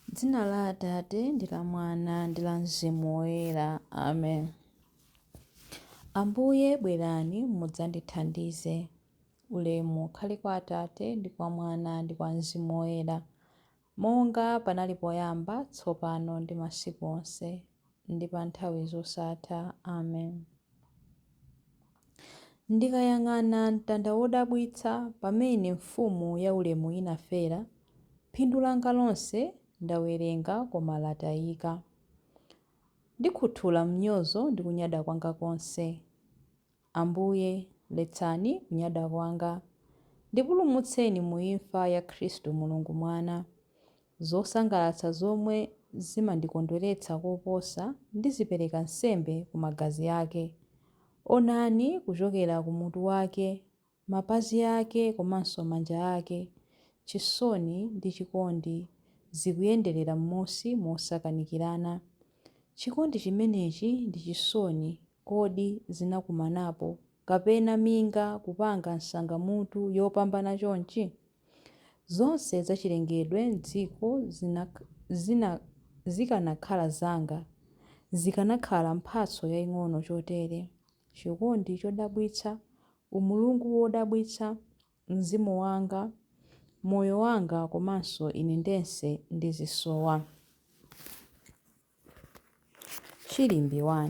M'dzina la Atate, ndi la Mwana, ndi la Mzimu Woyera. Amen. Ambuye, bwerani mudzandithandize. Ulemu ukhale kwa Atate, ndi kwa Mwana, ndi kwa Mzimu Woyera, monga panali poyamba, tsopano, ndi masiku onse. ndi pa nthawi zosatha. Amen. Ndikayang'ana mtanda wodabwitsa pamene Mfumu yaulemu inafera, phindu langa lonse ndawerenga koma latayika. Ndikhuthula mnyozo ndi kunyada kwanga konse. Ambuye, letsani kunyada kwanga. Ndipulumutseni mu imfa ya Khristu Mulungu Mwana. Zosangalatsa zomwe zimandikondweretsa koposa ndizipereka nsembe ku magazi ake. Onani kuchokera ku mutu wake Mapazi ake komanso manja ake, chisoni ndi chikondi zikuyenderera mmunsi mosakanikirana. Chikondi chimenechi ndi chisoni kodi zinakumanapo, kapena minga kupanga nsangamutu yopambana chonchi? Zonse zachilengedwe m'dziko zina, zina, zikanakhala zanga, zikanakhala mphatso yaing'ono chotere. chikondi chodabwitsa, umulungu wodabwitsa, mzimu wanga, moyo wanga komanso ine ndense ndizisowa. Chilimbi 1.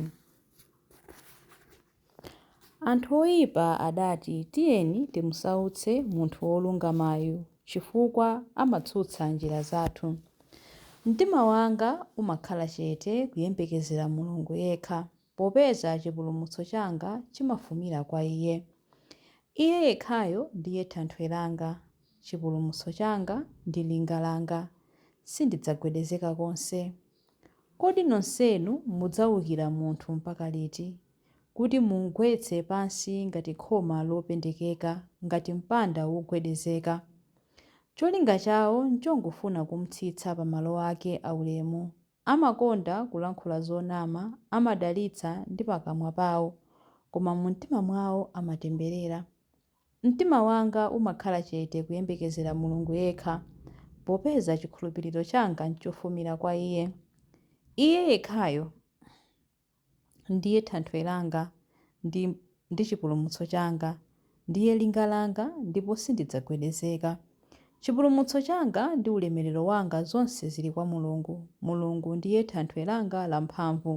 Anthu oyipa adati tiyeni timusautse munthu wolungamayu chifukwa amatsutsa njira zathu. Mtima wanga umakhala chete kuyembekezera Mulungu yekha. popeza chipulumutso changa chimafumira kwa Iye. Iye yekhayo ndiye thanthwe langa, chipulumutso changa, ndi linga langa, sindidzagwedezeka konse. Kodi nonsenu mudzaukira munthu mpaka liti, kuti mumgwetse pansi ngati khoma lopendekeka, ngati mpanda wogwedezeka? Cholinga chawo nchongofuna kumtsitsa pa malo ake aulemu, Amakonda kulankhula zonama, amadalitsa ndi pakamwa pawo, koma mumtima mwawo amatemberera. Mtima wanga umakhala chete kuyembekezera Mulungu yekha, popeza chikhulupiriro changa n'chofumira kwa Iye. Iye yekhayo! ndiye thanthwe langa ndi chipulumutso changa, ndiye linga langa ndipo sindidzagwedezeka. Chipulumutso changa ndi ulemerero wanga zonse zili kwa Mulungu. Mulungu ndiye thanthwe langa lamphamvu,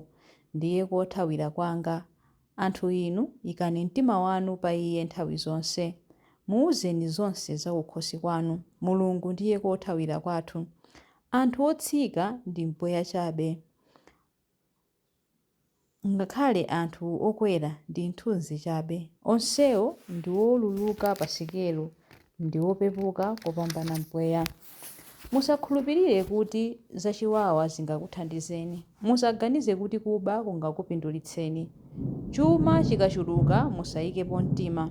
ndiye kothawira kwanga. Anthu inu, ikani mtima wanu pa Iye nthawi zonse. Muwuzeni zonse zakukhosi kwanu. Mulungu ndiye kothawira kwathu. Anthu otsika ndi mpweya chabe. Ngakhale anthu okwera ndi nthunzi chabe. Onsewo ndi woluluka pa sikelo ndi opepuka kopambana mpweya. Musakhulupirire kuti zachiwawa zingakuthandizeni. Musaganize kuti kuba kungakupindulitseni. Chuma chikachuluka musayikepo mtima.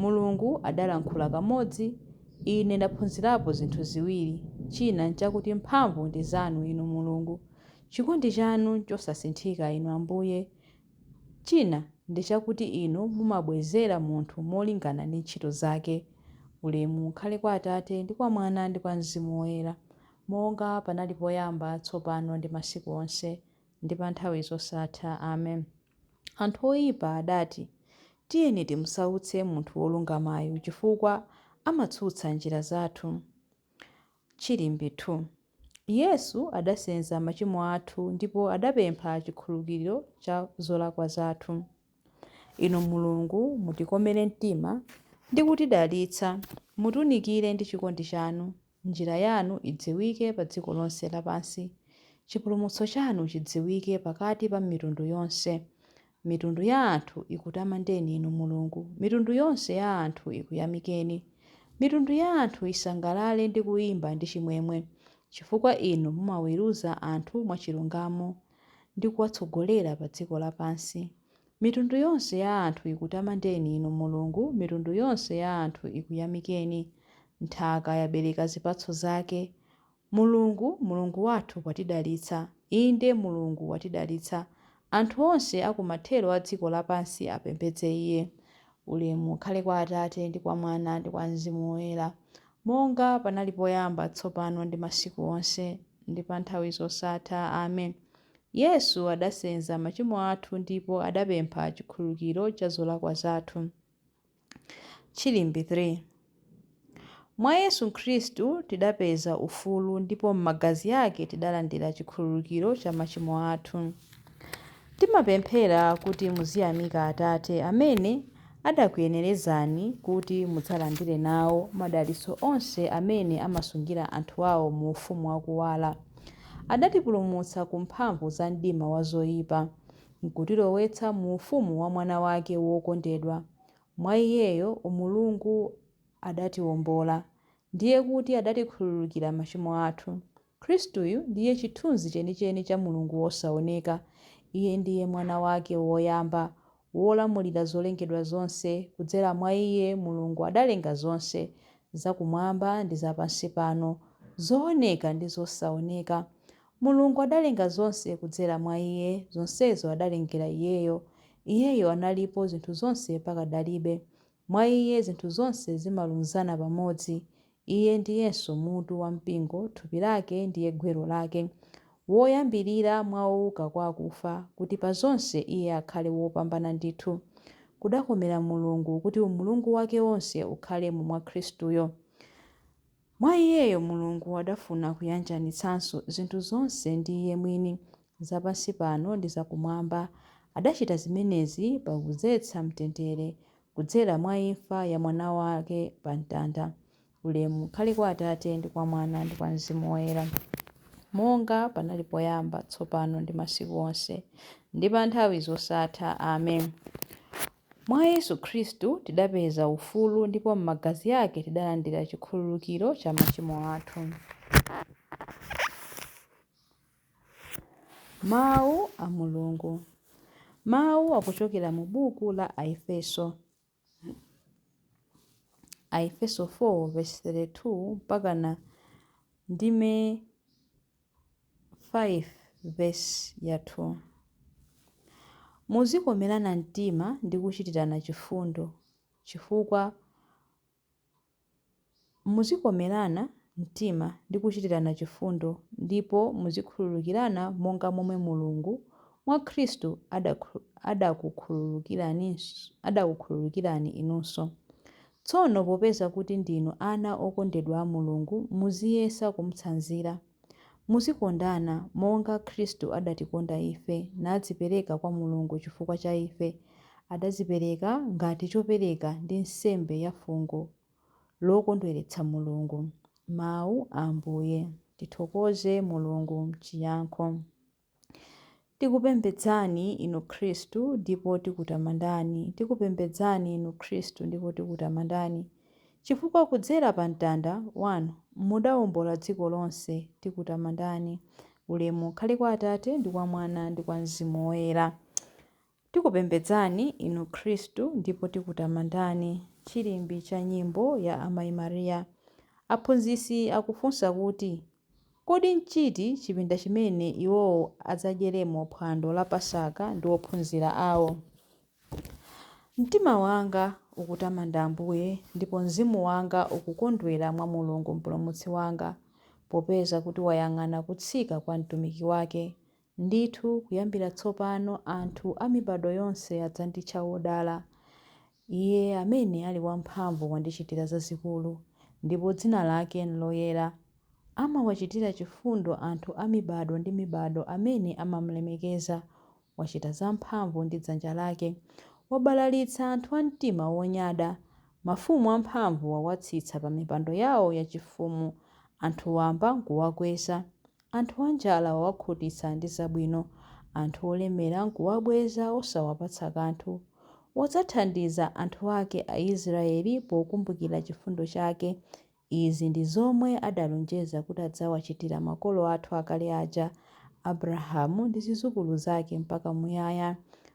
Mulungu adalankhula kamodzi, ine ndaphunzirapo zinthu ziwiri, china n'chakuti mphamvu ndi zanu, Inu Mulungu. Chikondi chanu nchosasinthika, Inu Ambuye. China ndi chakuti Inu mumabwezera munthu molingana ndi ntchito zake. Ulemu ukhale kwa Atate, ndi kwa Mwana, ndi kwa Mzimu Woyera, monga panali poyamba, tsopano, ndi masiku onse, ndi pa nthawi zosatha. Amen. Anthu oipa adati, Tiyeni timsautse munthu wolungamayu, chifukwa amatsutsa njira zathu. Chilimbe 2. Yesu adasenza machimo athu ndipo adapempha chikhululukiro cha zolakwa zathu. Inu Mulungu, mutikomere mtima ndi kutidalitsa, mutiunikire ndi chikondi chanu, njira yanu idziwike pa dziko lonse lapansi, chipulumutso chanu chidziwike pakati pa mitundu yonse. Mitundu ya anthu ikutamandeni Inu Mulungu, mitundu yonse ya anthu ikuyamikeni. Mitundu ya anthu isangalale ndi kuyimba ndi chimwemwe, chifukwa Inu mumaweruza anthu mwachilungamo ndi kuwatsogolera pa dziko lapansi. Mitundu yonse ya anthu ikutamandeni Inu Mulungu, mitundu yonse ya anthu ikuyamikeni. Nthaka yabereka zipatso zake, Mulungu, Mulungu wathu watidalitsa, inde, Mulungu watidalitsa, anthu onse a ku mathero a dziko lapansi apembedze Iye. Ulemu ukhale kwa Atate, ndi kwa Mwana, ndi kwa Mzimu Woyera, monga panali poyamba, tsopano, ndi masiku onse, ndi pa nthawi zosatha. Amen. Yesu adasenza machimo athu ndipo adapempha chikhululukiro cha zolakwa zathu. Chilimbi 3 Mwa Yesu Khristu tidapeza ufulu ndipo m'magazi ake tidalandira chikhululukiro cha machimo athu. Timapemphera kuti muziyamika Atate amene adakuyenerezani kuti mudzalandire nawo madalitso onse amene amasungira anthu ao mu ufumu wa kuwala. Adatipulumutsa ku mphamvu za mdima wa zoipa, n'kutilowetsa mu ufumu wa Mwana wake wokondedwa. Mwa iyeyo Mulungu adatiwombola, ndiye kuti adatikhululukira machimo athu. Khristuyu ndiye chithunzi chenicheni cha Mulungu wosaoneka. Iye ndiye Mwana wake woyamba, wolamulira zolengedwa zonse, kudzera mwa iye Mulungu adalenga zonse, zakumwamba ndi za pansi pano, zooneka ndi zosaoneka. Mulungu adalenga zonse kudzera mwa Iye, zonsezo adalengera Iyeyo. Iyeyo analipo zinthu zonse pakadalibe. Mwa Iye zinthu zonse zimalunzana pamodzi. Iye ndiyenso mutu wa mpingo, thupi lake ndiye gwero lake. Woyambirira mwa ouka kwa akufa, kuti pa zonse Iye akhale wopambana ndithu. Kudakomera Mulungu kuti umulungu wake wonse ukhalemo mwa Khristuyo. Mwa iyeyo Mulungu adafuna kuyanjanitsanso zinthu zonse ndi Iye mwini, za pansi pano ndi za Kumwamba. Adachita zimenezi pakudzetsa mtendere kudzera mwa imfa ya Mwana wake pa mtanda. Ulemu ukhale kwa Atate, ndi kwa Mwana, ndi kwa Mzimu Woyera, monga panali poyamba, tsopano, ndi masiku onse, ndi pa nthawi zosatha. Amen. Mwa Yesu Khristu tidapeza ufulu ndipo m'magazi ake tidalandira chikhululukiro cha machimo athu. Mawu a Mulungu Mawu akuchokera mu buku la Aefeso. Aefeso 4 vesi 32 mpakana ndime 5 vesi ya 2, Muzikomerana mtima ndi kuchitirana chifundo chifukwa Muzikomerana mtima ndi kuchitirana chifundo ndipo muzikhululukirana monga momwe Mulungu mwa Khristu adakukhululukirani inunso. Tsono popeza kuti ndinu ana okondedwa a Mulungu, muziyesa kumutsanzira. Muzikondana, monga Khristu adatikonda ife, nadzipereka kwa Mulungu chifukwa cha ife. Adadzipereka ngati chopereka ndi nsembe ya fungo lokondweretsa Mulungu. Mawu a Ambuye. Tithokoze Mulungu Chiyankho. Tikupembedzani, Inu Khristu, ndipo tikutamandani. Tikupembedzani, Inu Khristu, ndipo tikutamandani. Chifukwa kudzera pa mtanda Wanu mudawombola dziko lonse, tikutamandani. Ulemu ukhale kwa Atate, ndi kwa Mwana, ndi kwa Mzimu Woyera. Tikupembedzani Inu Khristu ndipo tikutamandani. Chilimbi cha nyimbo ya Amai Maria. Aphunzitsi akufunsa kuti, Kodi nchiti chipinda chimene iwowo adzadyeremo phwando la Pasaka ndi ophunzira ao? Mtima wanga ukutamanda Ambuye, ndipo mzimu wanga ukukondwera mwa Mulungu Mpulumutsi wanga, popeza kuti wayang'ana kutsika kwa mtumiki wake. Ndithu kuyambira tsopano anthu a mibado yonse adzanditcha wodala. Iye amene ali wamphamvu wandichitira zazikulu, ndipo dzina lake n'loyera. Amawachitira chifundo anthu a mibado ndi mibado amene amam'lemekeza. Wachita zamphamvu ndi dzanja lake. Wabalalitsa anthu a mtima wonyada. Mafumu amphamvu wawatsitsa pamipando yawo yachifumu, anthu wamba n'kuwakweza. Anthu anjala wawakhutitsa ndi zabwino, anthu olemera n'kuwabweza osawapatsa kanthu. Wadzathandiza anthu ake Aisiraeli pokumbukira chifundo chake. Izi ndi zomwe adalonjeza kuti adzawachitira makolo athu akale aja, Abrahamu ndi zidzukulu zake mpaka muyaya.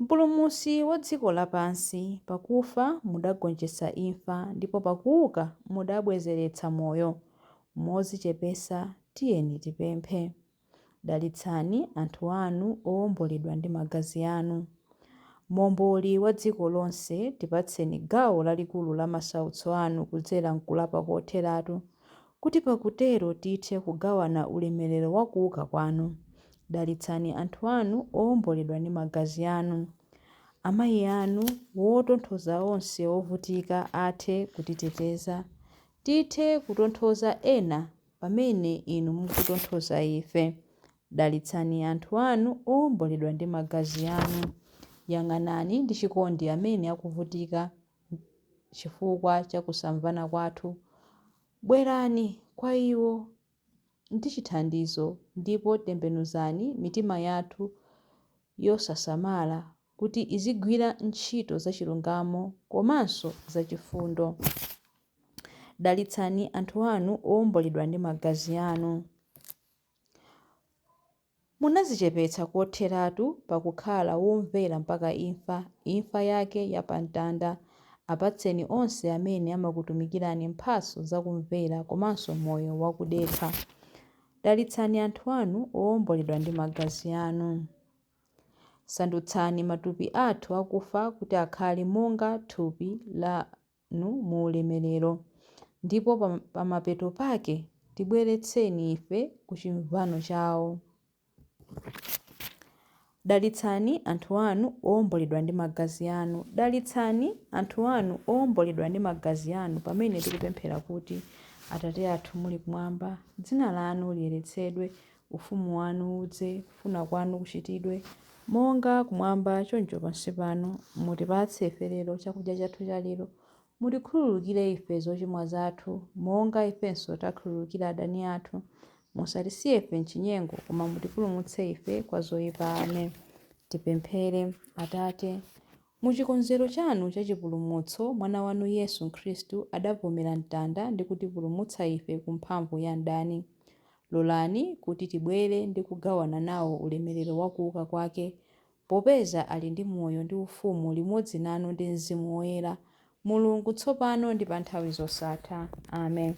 Mpulumutsi wa dziko lapansi, pakufa mudagonjetsa imfa ndipo pakuuka mudabwezeretsa moyo. Modzichepetsa tiyeni tipemphe. Dalitsani anthu anu owomboledwa ndi magazi anu. Momboli wa dziko lonse, tipatseni gawo lalikulu la masautso anu kudzera m'kulapa kotheratu, kuti pakutero tithe kugawana ulemerero wa kuuka kwanu. Dalitsani anthu anu owomboledwa ndi magazi anu, amayi anu, wotonthoza onse ovutika athe kutiteteza, tithe kutonthoza ena pamene inu mukutonthoza ife. Dalitsani anthu anu owomboledwa ndi magazi anu. Yang'anani ndi chikondi amene akuvutika chifukwa cha kusamvana kwathu. Bwerani kwa iwo. ndi chithandizo ndipo tembenuzani mitima yathu yosasamala kuti izigwira ntchito zachilungamo komanso zachifundo. Dalitsani anthu anu owomboledwa ndi magazi anu. Munazichepetsa kotheratu pa kukhala womvera mpaka imfa, imfa yake ya pa Mtanda. Apatseni onse amene amakutumikirani mphatso za kumvera komanso moyo wa kudekha. Dalitsani anthu anu owomboledwa ndi magazi anu. Sandutsani matupi athu akufa kuti akhale monga thupi la. nu mu Ulemerero. Ndipo pa mapeto pake, tibweretseni ife ku chimvano chawo. Dalitsani anthu anu owomboledwa ndi magazi anu. Dalitsani anthu anu owomboledwa ndi magazi anu pamene tikupemphera kuti, Atate athu muli kumwamba, dzina lanu liyeretsedwe, Ufumu wanu udze. Kufuna kwanu kuchitidwe, monga kumwamba choncho pansi pano. Mutipatse ife lero chakudya chathu chalero. Mutikhululukire ife zochimwa zathu, monga ifenso takhululukira adani athu. Musatisiye ife m'chinyengo, koma mutipulumutse ife kwa zoipa. Amen. Tipemphere. Atate, mu chikonzero chanu cha chipulumutso, Mwana wanu Yesu Khristu adavomera mtanda ndi kutipulumutsa ife ku mphamvu ya mdani. Lolani kuti tibwere ndi kugawana nawo ulemerero wa kuuka kwake, popeza ali ndi moyo ndi ufumu limodzi nanu ndi Mzimu Woyera, Mulungu, tsopano ndi pa nthawi zosatha. Amen.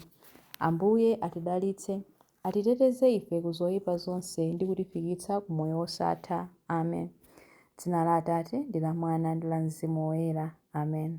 Ambuye atidalitse, atiteteze ife ku zoipa zonse ndi kutifikitsa ku moyo wosatha. Amen. Dzina la Atate, ndi la Mwana, ndi la Mzimu Woyera. Amen.